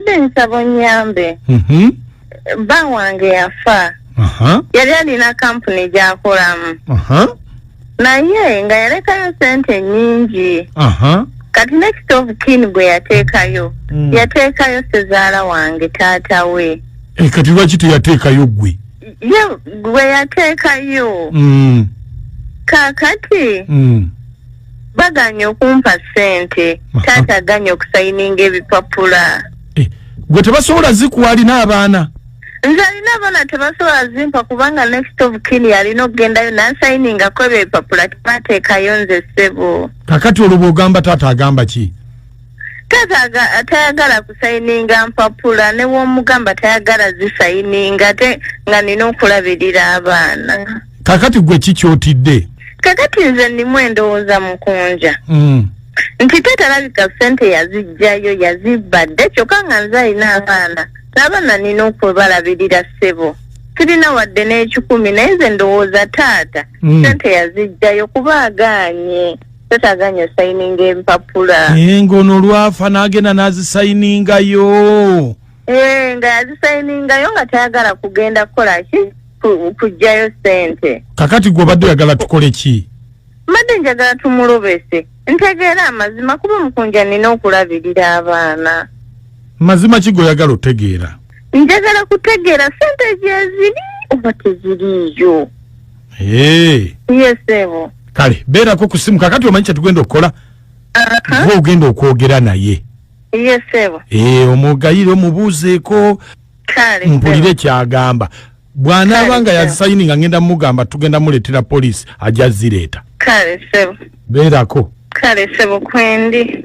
Mbadde nsaba onnyambe. Mhm. Bba wange yafa. Aha. Yali alina kampuni gy'akolamu. Aha. Naye nga yalekayo sente nnyingi. Aha. Kati ne kitoovu kiini gwe yateekayo. Mm. Yateekayo sezaala wange taata we. Eh, kati lwaki teyateekayo ggwe? Ye gwe yateekayo. Mm. Kaakati. Mm. baganye okumpa sente taata aganye okusayininga ebipapula eh, gwe tebasobola zikuwalina abaana nze alina abaana tebasobola zimpa kubanga next of kin yalina okugendayo nansayiningako ebyo ebipapula tebateekayo nze ssebo kakati olwo bwogamba taata agamba ki taata tayagala kusayininga mpapula newomugamba tayagala zisayininga ate nga nina okulabirira abaana kakati gwe kikyotidde kakati nze ndimu endowooza mukunja mm. nti tetalabika sente yazijjayo yazibadde kyokka nga nze alina abaana n'abaana nina okwebalabirira ssebo sirina wadde n'ekikumi naye nze ndowooza taata mm. sente yazijjayo kuba agaanye tetaaga nyo sayininga empapula naye ng'ono olwafa n'agenda n'azisayiningayo Eh, nga yazisayiningayo nga tayagala kugenda kukola ki ku- kujjayo sente kakati gwe obadde oyagala tukole ki mbadde njagala tumulobese ntegeera amazima kuba mukunja nina okulabirira abaana mazima ki goyagala otegeera njagala kutegeera sente gyeziri oba teziriiyo yes ebo kale beerako ku simu kakati omanyi kyetugenda okukola uh-huh. gwe ogenda okwogera naye yes ebo eh, omugayire omubuuzeeko mpulire kyagamba bwanaaba nga yazisayini nga ngenda mugamba tugenda muleetera poliisi ajja zireeta kale sebo beerako kale sebo kwendi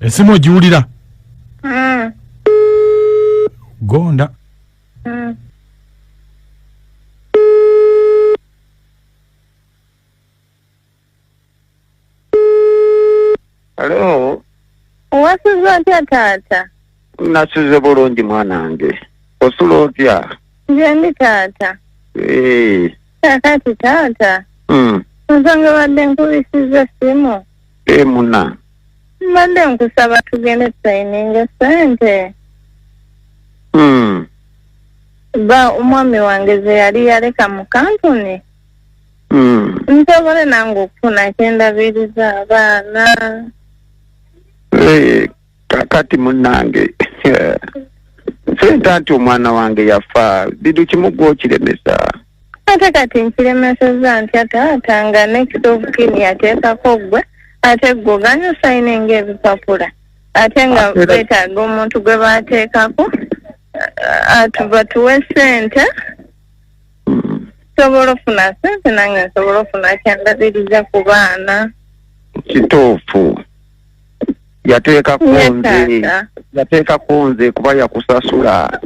esimu ogiwulira mm. gonda mm. Hello. Wasuze otya taata? Nasuze bulungi mwana wange. Osula otya? Nze ndi taata. Eh. Kakati taata. Mm. Nsonga badde nkubisiza essimu. Eh muna. Mbadde nkusaba tugende tusayininge ssente. Mm. Ba omwami wange ze yali yaleka mu kampuni. Mm. nsobole nange okufuna kyendabiriza abaana Eh, kakati munange sente anti omwana wange yafa bidu kimu gwokiremesa ate kati nkiremeseza ntya taata nga next of kin yateekako gwe ate gwe oganye osayina enga ebipapula ate nga Ate era- betaaga omuntu gwe bateekako atu batuwe sente nsobola ofuna sente nange nsobola ofuna kyandabiriza ku baana kituufu yateekako Ye nze taata. yateekako nze kuba yakusasula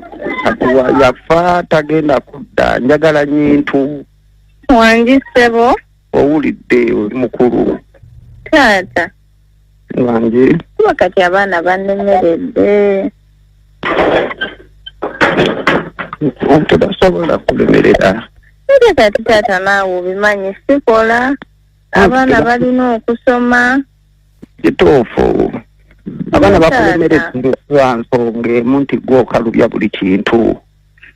kati wa- yafa tagenda kudda njagala nyintu wangi ssebo owulidde oli mukulu taata wange kuba kati abaana banemeredde tebasobola kulemerera ate kati taata naawe obimanyi sikola abaana balina okusoma kituufu abaana bakulemerera lwa nsonga emu nti gwokalubya buli kintu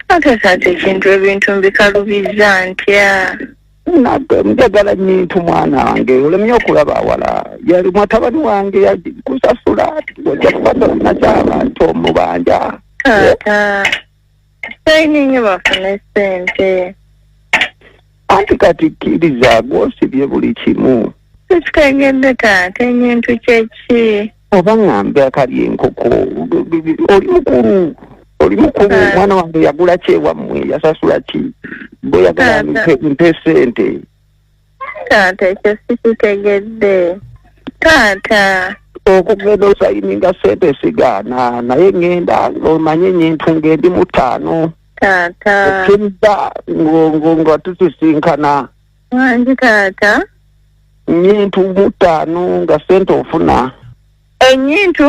ate taata ekintu ebintu mbikalubizza ntya nabbe njagala nyintu mwana wange olemye okulaba awala yali mwatabani wange yakusasula ojja kubasola nakyaba nti omubanja taata saini nyo bafune sente anti kati kkiriza gwosibye buli kimu ekitegedde taata enyintu kyeki oba ŋambe akali enkoko oli mukulu oli mukulu omwana wange yagula kyewammwe yasasula ki bweyagala mpe sente taata ekyo sikitegedde taata okugenda osayininga sente sigaana naye ŋenda omanye nyintu ngendi mutaano taata okiriza ngo- ngo- nga tusisinkana wangi taata nyintu mutaano nga sente ofuna enyintu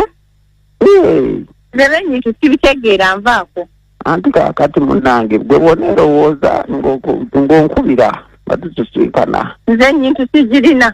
Eh, lero enyintu sibitegeera nvaako anti kakati munange gwe bona erowooza ng'oku- ng'onkubira nga tusisinkana nze enyintu sigirina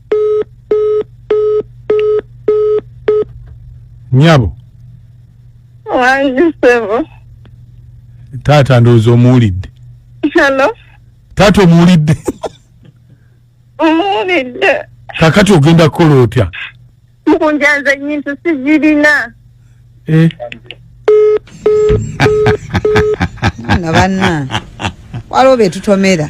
nyabo wangi sebo taata ndowooza omuwulidde halo taata omuwulidde omuwulidde kakati ogenda kukola otya mukunjanza nyintu sigirina eh. na banna waliwo betutomera